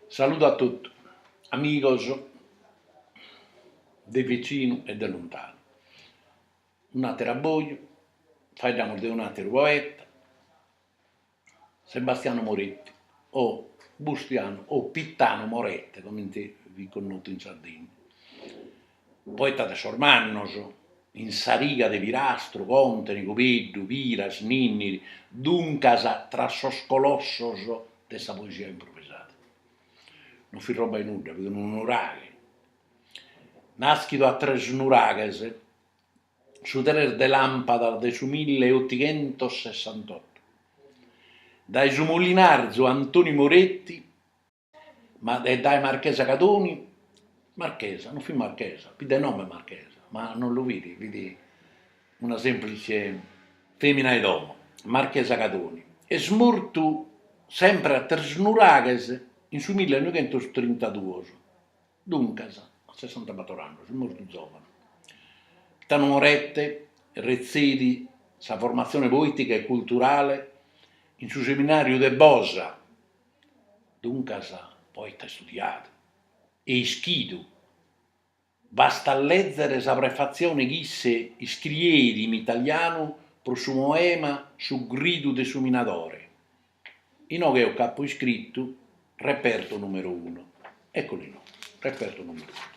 Saludu a totu, amigos de vicinu e de luntanu. Un'àteru abboju, faeddamus de un'àteru poeta, Sebastiano Moretti, o Bustianu o Pittanu Morette, comente fit connotu in Sardigna. Poeta de sos mannos, in sa riga de Pirastru, Contini, Cubeddu, Piras, Ninniri, duncas tra sos colossos de sa poesia improvisada. Non fit roba 'e nudda, fit unu nuraghe, nàschidu a Tresnuraghes, su tres de làmpadas de su mille otighentos sessantotto, dae su molinarzu Antoni Moretti Ma e dae Marchesa Cadoni, Marchesa, non fit Marchesa, fit de nomene Marchesa, ma non lu fit, fit una semplice femina 'e domo, Marchesa Cadoni, est mortu sempre a Tresnuraghes in su millenoighentostrintadduos, duncas a sessantabator annos, est mortu zovanu. Tanu Morette retzeit sa formatzione poetica e culturale in su seminariu de Bosa Duncas, poeta istudiadu e ischidu, bastat lèzere sa prefatzione chi isse iscrieit in italianu pro su poema Su gridu de su minadore, inoghe eo ch'apo iscritu Reperto numero uno, eccolo inoghe, Reperto numero uno.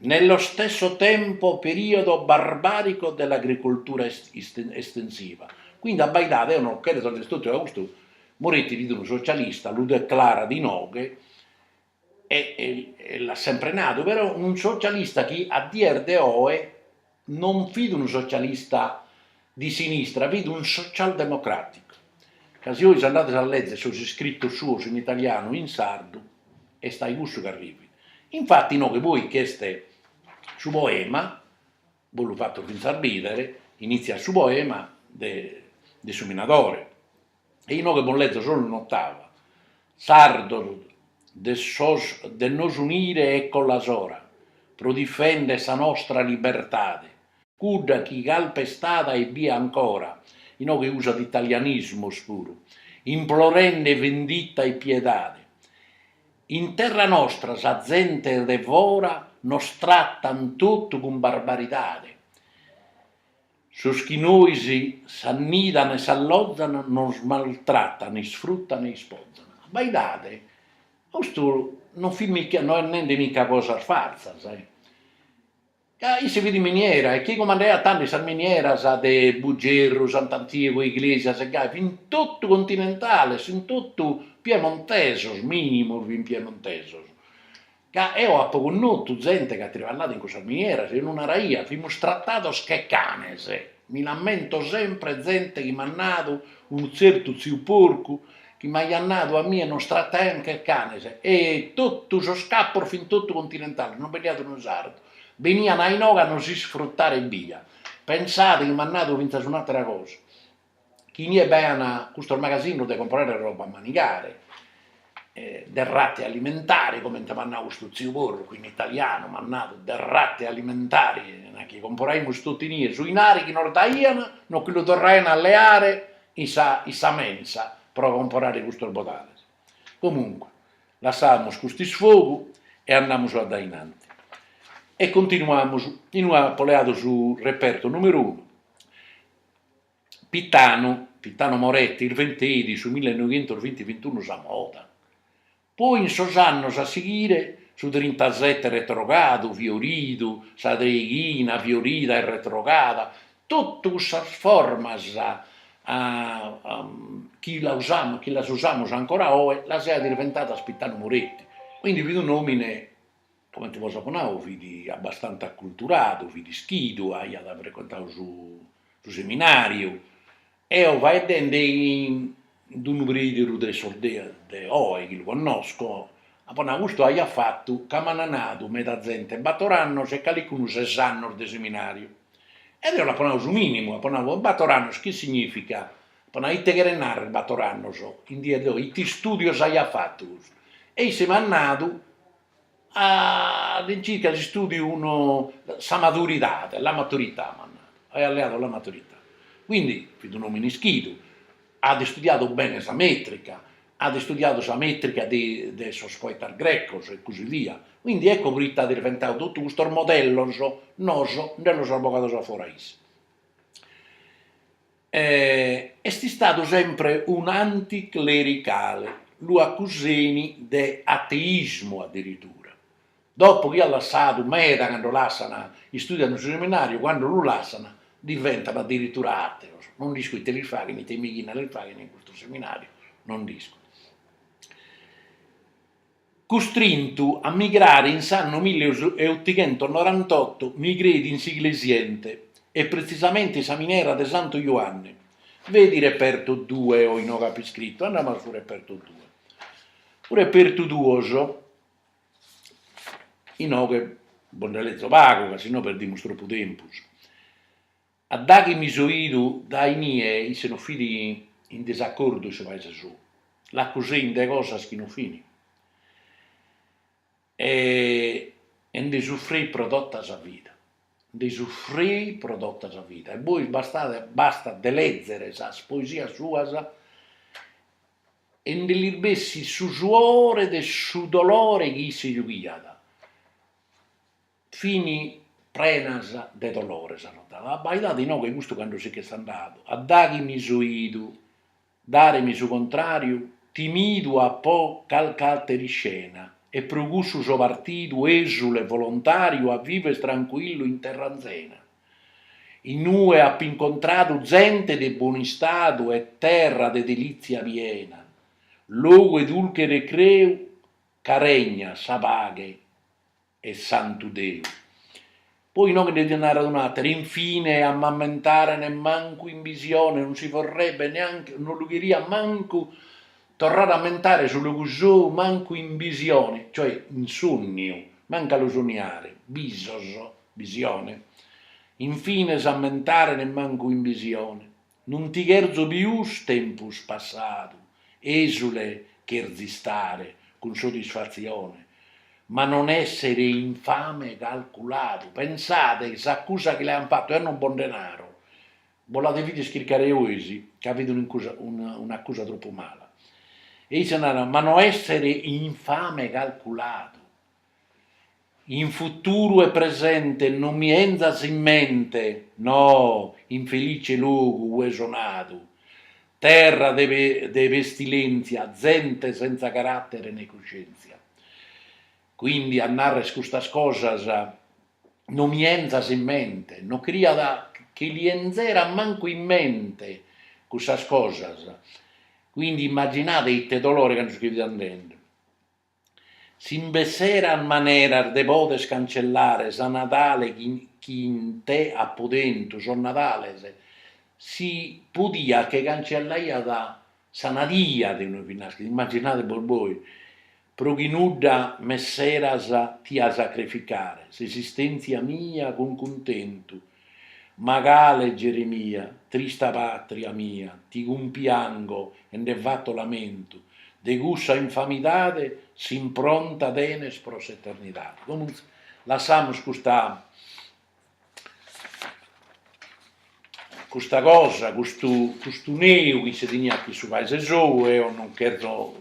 Nello stesso tempo periodo barbarico dell'agricoltura estensiva. Quindi abbaidade, eo no cheret a dd'isturtu ca custu Moretti fit unu socialista, lu declarat inoghe e l'at sempre nadu, però unu socialista chi a dies de oe Non fit unu socialista de sinistra, fit unu socialdemocràticu, ca si ois andades a lèzere sos iscritos suos in italianu e in sardu est a-i cussu ch'arrivit. Infati inoghe poi ch'est su poema, bos lu fato fintzas bìdere, initziat su poema de su minadore. e inoghe bos lezo solu un'otava, Sardos de de nos unire eccola s'ora pro difender sa nostra libertade, cudda chi calpestada est bia ancora, inoghe usat italianismos puru, implorende venditta e piedade. In terra nostra sa zente de fora nos trattan totu cun barbaridade. Sos chi nois s'annidan e s'allozan nos maltratan, isfrutan e ispozan. Abbaidade, custu non fit, no est nende mica cosas faltzas. Ca isse fit in miniera e chi cumandaiat tandi sas minieras de Bugerru, Sant'Antiogu, Iglesias e gai fin totu continentales, fin totu piemontesos, minimus fin piemontesos. ca eo apo connotu zente ch'at triballadu in cussas minieras, e nos naraiat, fimus tratados che canes, mi l'ammento sempre zente chi m'at nadu, unu tzertu tziu porcu, chi m'aiat nadu a mie nos trataian che canes, e totu sos capos fin totu continentales, no bi nd'aiat unu sardu, benian a inoghe a nos isfrutare ebbia, pensade chi m'at nadu fintzas un'atera cosa chi inie bi aiat custos magasinos de comporare roba a manigare, derrate alimentari, comente m'at nau custu tziu Porcu, chi in italianu m'at nadu derrate alimentari, chi comporaimus totu inie su inari chi nos daiant, nos che lu torraiant a leare in sa in sa mensa pro comporare custos bodales. Comunque, lassamus cust'isfogu e andamus a dae in antis. E continuamus, no, apo leadu su repertu numeru unu, Pitanu, Pitanu Moretti, irventeit in su millenoighentos vinti vintiunu sa moda, poi in sos annos a sighire su trintasette retrogadu, fioridu, sa treighina fiorida e retrogada, totu cussas formas chi la usamus chi las usamus ancora oe las iat irventadas Pitanu Moretti, quindi fit un'omine Comente bos apo nau fit abbastante acculturadu, fit ischidu, aiat frecuentadu su su seminariu, eo faeddende cun unu preìderu de sos dies de oe chi lu connosco, apo nau, custu aiat fatu, ca m'ana nadu meda zente, bator annos e calicunu ses annos de seminariu, ed eo l'apo nau su minimu, apo nau, bator annos chi significat, apo nau, ite cheret narrer bator annos, in dies de oe, ite istudios aiat fatu custu, e isse m'at nadu All'incirca si istudiu unu, sa maturidade, la maturità m'at nau, aiat leadu la maturità, quindi fit unu omine ischidu, at istudiadu bene sa metrica, at istudiadu sa metrica de de sos poetas grecos e così via, quindi ecco proite at irventau totu custos modellos noos nde los at bogados a fora isse Est istadu sempre un'anticlericale, lu acuseni de ateismu addirittura, dopo chi at lassadu meda cando lassan, istùdian in su seminàriu, cando lu lassan diventan addirittura àteos, non nd'isco ite lis faghen, ite meighina lis faghen in custu seminàriu, non nd'isco Custrintu a migrare in s'annu milleottighentosnorantotto migreit in s'Iglesiente e pretzisamente in sa minera de Santu Juanne, vedi reperto due, eo inoghe apo iscritu, andamus a su reperto due. Su repertu duos, inoghe bos nde lezo pagu ca si no perdimus tropu tempus A daghi mi so idu dae inie isse no fit in disacordu in su paise sou, l'accusein de cosas chi no fini e nde suffreit pro tota sa vida, nde suffreit pro tota sa vida e bois bastat bastat de lezere sas poesias suas e nde li bessit su suore de su dolore chi isse giughiat Fin prenas de dolore sa notada, abbaidade inoghe custu cando si ch'est andadu, a daghi mi so idu, dare mi su contrariu, timidu apo calchi atera iscena, e pro cussu so partidu esule e volontariu a viver trancuillu in terra anzena, in ue apo incontradu zente de bonu istadu e terra de delitzia piena, logu 'e dulche recreu ca regnat sa paghe e santu Deu. Poi inoghe nde diat narrer un'atera, Infine a m'ammentare nemmancu in bisione non si vorrebbe neanche, non lu cheriat mancu torrare a ammentare su logu sou mancu in bisione, cioè in sonniu, mancu a lu sonniare, bisos, bisione, infine s'ammentare nemmancu in bisione, Non ti cherzo pius tempus passadu, esule cherzo istare cun sodisfatzione, ma non essere infame calculadu, pensade chi s'accusa chi l'aiant fatu eo non bos nde naro, bos la devides chircare bois ca fit un'accusa tropu mala, e isse narat, ma no essere infame calculadu, In futuru e presente non mi 'enzas in mente, no, infelice logu ue so nadu, terra de pestilèntzia, zente sentza caràtere ne cuscèntzia. Quindi a narrer custas cosas non mi 'enzas in mente, no cheriat chi li 'enzera mancu in mente custas cosas, quindi immaginade ite dolore cando si che fit andende. Si b'esseran maneras de poder cancellare sa nadale chi in te apu tentu, sos nadales, si podiat che cancellaiat sa nadia de inue fit naschidu, immagginade bos bois, pro chi nudda m'esseras, tia sacrificare, s'esistèntzia mia cun cuntentu, Ma cale Geremia, trista pàtria mia, ti cumpiango e nde fato lamentu, de cussa infamidade s'impronta tenes pro s'eternidade. Comunque, lassamus custa custa cosa, custu custu neu chi si teniat chin su paese sou, eo non cherzo,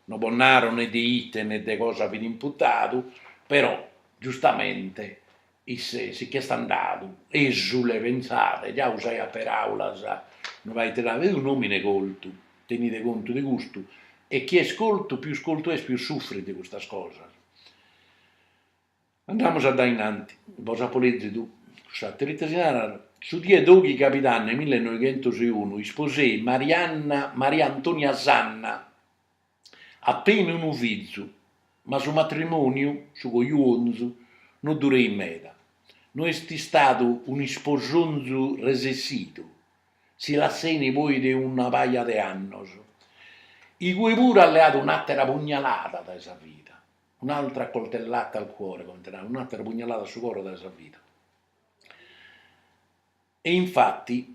no bos naro ne de ite ne de cosa fit imputadu, però giustamente Isse si ch'est andadu, esule, pentzade, già usaiat peraulas, no l'ait dadu, est un'omine coltu, tenide contu de custu, e chi est coltu, pius coltu est, pius suffrit de custas cosas. Andamus a dae innanti, bos apo lezidu cuss'ateru, ite si narat, su die doighi cabidanne millenoighentos e unu isposeit Marianna Maria Antonia Sanna, Apeni unu fizu, ma su matrimòniu, su cojuonzu, no dureit meda. No est istadu un'isposonzu resessidu, si lasseni poi de una paja de annos. Igue puru at leadu un'àtera pugnalada dae sa vida, un'altra coltellata al cuore, comente narat, un'àtera pugnalada a su coro dae sa vida. E infati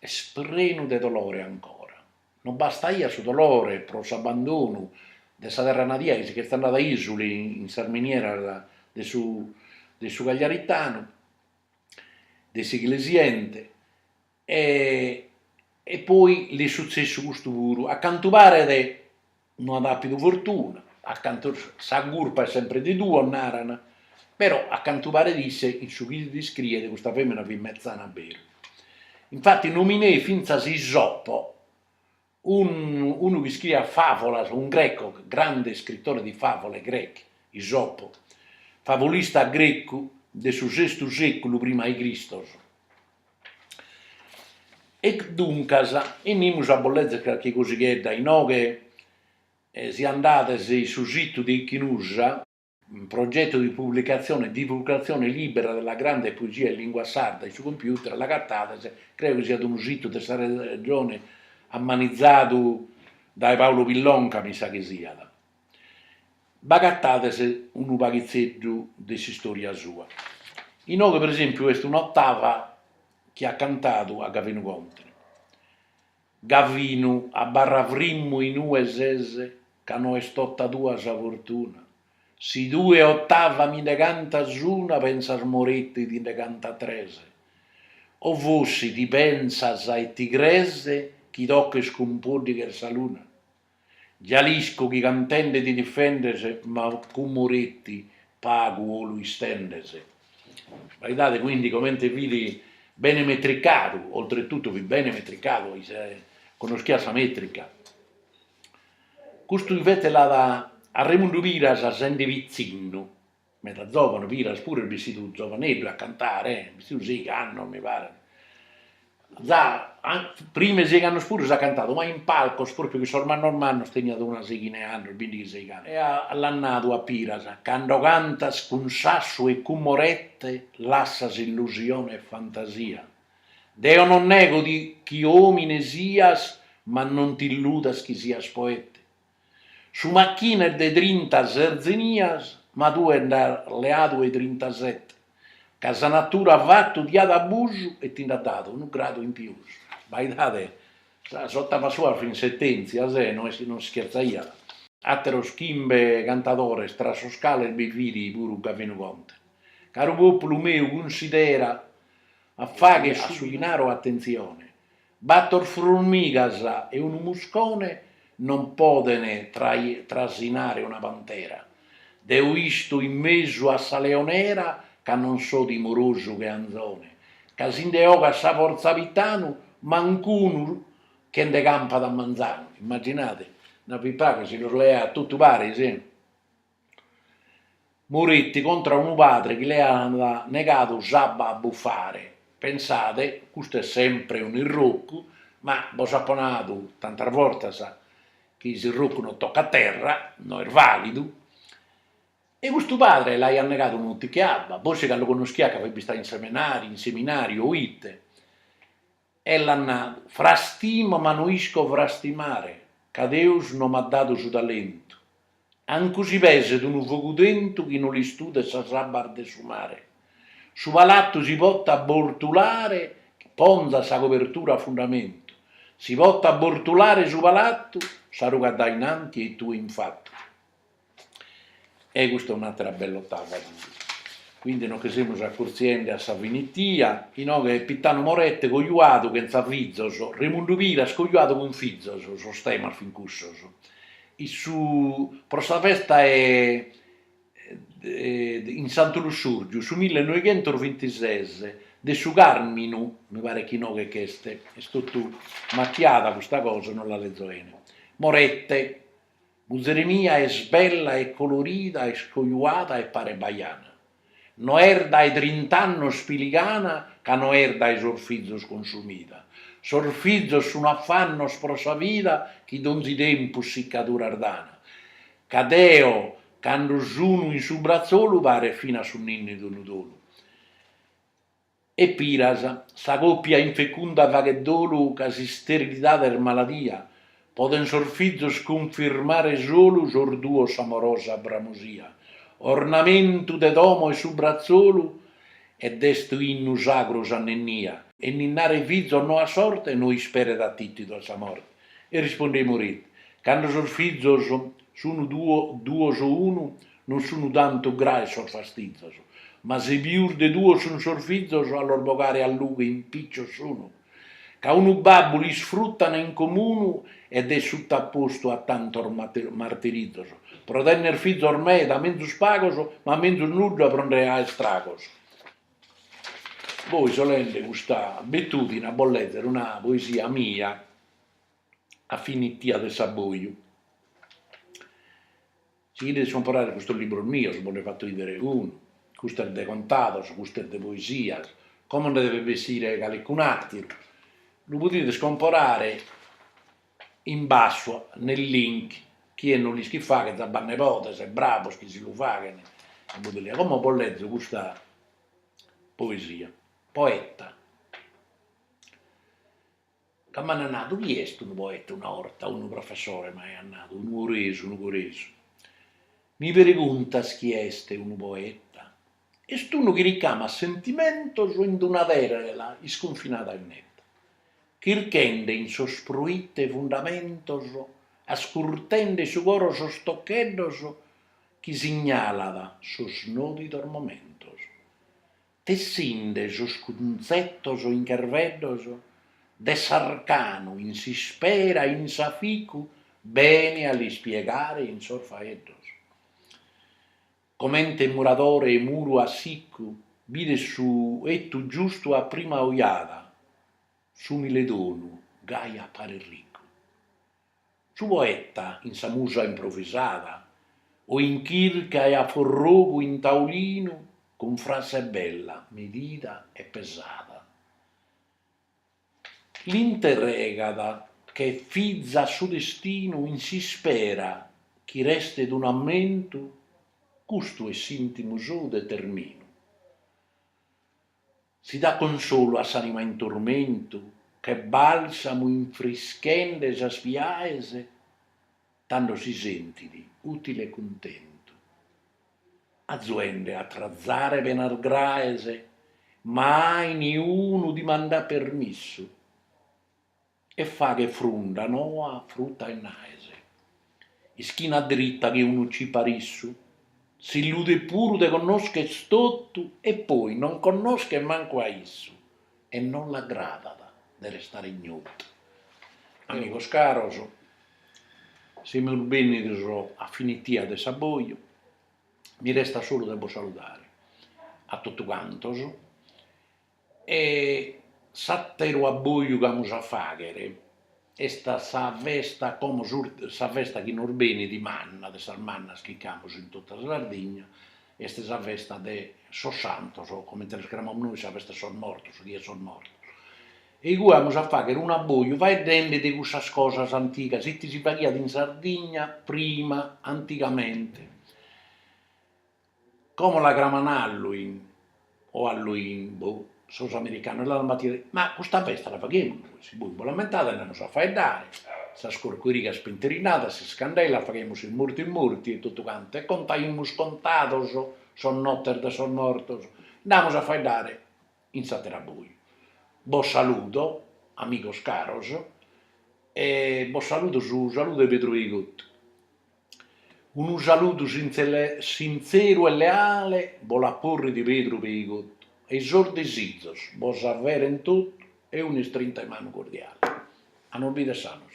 Est prenu de dolore ancora. No bastaiat su dolore pro s'abbandonu de sa terra nadia chi si ch'est andadu esule in sas minieras de su de su Cagliaritanu, de s'Iglesiente, e e poi l'est sutzessu custu puru, a cantu paret, No at àpidu fortuna, a cantu sa curpa est sempre de duos, naran, però a cantu paret isse in su chi nd'iscriet custa fèmina fit metzana beru. Infati nomineit fintzas Isopo, unu unu chi iscriiat fàvolas, unu grecu, grande iscritore di favole greche, Isopo, favulista grecu de su sestu sèculu prima 'e Cristos. E duncas enimus a bos lezere carchi cosighedda, inoghe si andades in su situ de Ichnussa, un progetto di pubblicazione e divulgazione libera della grande poesia in lingua sarda, in su computer l'agatades, creo chi siat unu situ de sa Regione ammanizzadu dae Paolo Pillonca mi sa chi siat b'agatades unu paghitzeddu de s'istòria sua. Inoghe, pro esèmpiu, est un'otava chi at cantadu a Gavinu Contene, Gavinu, abarra frimmu in ue ses ca no est tota tua sa fortuna, si tue otava mi nde cantas una pensa Moretti ti nde cantat tres, o forsi ti pensas e ti cres chi toches cun pòddighe sa luna? Gialiscu chi cantende ti difendes ma cun Moretti pagu 'olu istendes. Baidade quindi comente fit bene metricadu, oltre tutto fit bene metricadu, conoschiat sa metrica. Custu invece la dat a Remundu Piras sende pitzinnu meda zovanu piras puru est bissidu zovaneddu a cantare bissidu a seigh'annos mi paret prima 'e seigh'annos puru s'at cantadu ma in palcos propriu cun sos mannos mannos teniat una seghina 'e annos bindighi seigh'annos e a l'at nadu a piras cando cantas cun sassu e cun morette lassas illusione e fantasia deo non nego ti chi omine sias ma non t'illudas chi sias poete Su machine est de trinta serzenias, ma tue nd'as leadu 'e trintasete, ca sa natura at fatu t'at abusu e ti nd'at dadu unu gradu in pius. Baidade, sas otavas suas fin sentèntzias, non schertzaiat. A àteros chimbe cantadores, tra sos cales bi fit puru Gavinu Conte. Caru pòpulu meu, cunsidera a fagher su ti naro atentzione, Bator furmigas e unu muscone non poden trasinare una pantera. Deo isto in mesu a sa leonera ca non so timorosu che anzone, ca si nde 'ogat sa fortza Pitanu, manc'unu che nde campat a manzanu. Immaginade, una pipa ca si los leat totu paris. Moretti contra unu padre chi l'aiat negadu s'abba a bufare, pensade, custu est sempre unu irrocu, ma bos apo nadu tantas bortas chi s'irrocu non tocat terra, non est validu, e custu padre l'aiat negadu unu tichi 'e abba, forsi ca lu connoschiat ca fit bistadu in seminariu o ite, E l'at nadu, Frastimo ma no isco frastimare, ca Deus no m'at dadu su talentu. Ancu si peset unu fogu tentu chi no l'istuden sas abbas de su mare, su palatu si potat abbortulare chi ponzat sa cobertura a fundamentu, si potat abbortulare su palatu, s'arugat dae in anti e tue in fatu. E custa un'atera bell'ottava. Quindi nos che semus accurziende a sa finitia, inoghe est Pittanu Morette cojuadu chentza fizos, Remundu Piras cojuadu cun fizos, sos temas fin cussos. In su pro sa festa est in Santu Lussurgiu su mille noighentos vintises de su Carminu, mi paret chi inoghe ch'est, est totu macchiada custa cosa, non la lezo 'ene, Morette Muzere mia est bella e colorida est cojuada e paret bajana, no est dae trint'annos piligana ca no est dae sos fizos consumida, sos fizos sun afannos pro sa vida chi donzi tempus siccaduras dana, ca deo cando sunu in su bratzolu paret finas su ninnidu unu dolu. E Piras, sa còpia infecunda faghet dolu ca s'isterilidade est maladia, podent sos fizos cunfirmare solu sos duos s'amorosa bramosia, ornamentu de domo est su bratzolu, ed est un'innu sagru s'anninnia, e ninnare fizos no at sorte no isperet atìtidu a sa morte, e rispondet Moretti, cando sos fizos sun duos o unu, Non sunu tantu graes sos fastizos, ma si pius de duos sun sos fizos a los bogare a lughe impiccios sunu, ca unu babbu l'isfruttan in comunu ed est suttapostu a tantos martirizos, pro tenner fizos meda, menzus pagos, ma menzus nudda pro nde aer istragos. Poi so leende custa abitudine a bos lezer una poesia mia a finitia de s'abboiu. Si cherides comporare custos libros mios, bos nde fato 'idere unu, custos de contados, custos de poesias, como nde devet bessire calicun'ateru, lu podides comporare in basso nel link, chie no l'ischit fagher de b'at nebodes e bravos chi si lu faghen, como bos lezo custa poesia, Poeta, Ca m'ant nadu, chi est unu poeta, una 'orta, unu professore m'aiat nadu, nugoresu, nugoresu, mi preguntas chi est unu poeta, est unu chi ricamat sentimentos in una tela iscunfinada e netta, chirchende in sos proite fundamentos, ascurtende su coro sos toccheddos chi signalat sos nodidos momentos, tessinde sos cunzetos in cherveddos de s'arcanu in s'ispera in s'aficu bene a l'ispiegare in sos faeddos. Comente muradore 'e muru a sicu bidet su 'ettu giustu a prima ojada, s'umile donu gai aparet ricu. Su poeta in sa musa improvisada o in chirca e a forrogu in taulinu cun frase bella, medida e pesada, l'interregat che fiza a su destinu in s'ispera chi restet unu ammentu, custu est s'intimu sou determinu. Si dat consolu a s'anima in turmentu che balsamu infrischende sas piaes tando si sentit utile e cuntentu, azuende a trazare penas graes, ma a niunu dimandat permissu. e faghet frunda noa fruta e naes, ischina dritta che unu ciparissu, s'illudet puru de connoschere totu e poi non connoschet mancu a issu e non l'agradat de restare ignotu. Amigos caros, semus bennidos a finitia de s'abboju, mi restat solu de bos saludare a totu cantos, E s'ateru abboju chi amus a fagher est a sa festa como sa festa chi nos benit manna, de sas mannas chi amus in tota sa Sardigna, est sa festa de sos santos, comente los cramamus nois sa festa 'e sos mortos, sa die 'e sos mortos, e igue amus a fagher un'abboju faeddende de cussas cosas antigas, ite si faghiat in Sardigna prima, antigamente Como la craman Halloween o Halloin, boh, sos americanos, l'an battida, ma custa festa la faghemus, si bois bos l'ammentades nd'amus a faeddare, sas corcurigas pinterinadas, sas candelas, faghemus sos murtis murtis e totu cantu e contaimus contados sos nottes de sos mortos, nd'amus a faeddare in s'atteru abboju. Bos saludo amigos caros e bos saludo su saludu 'e Pedru Peigottu Unu saludu sintzeru e leale bos lu porrit Pedru Peigottu e i sos desizos bos s'averent tottu e un'istrinta 'e manu cordiale. A nos bidere sanos.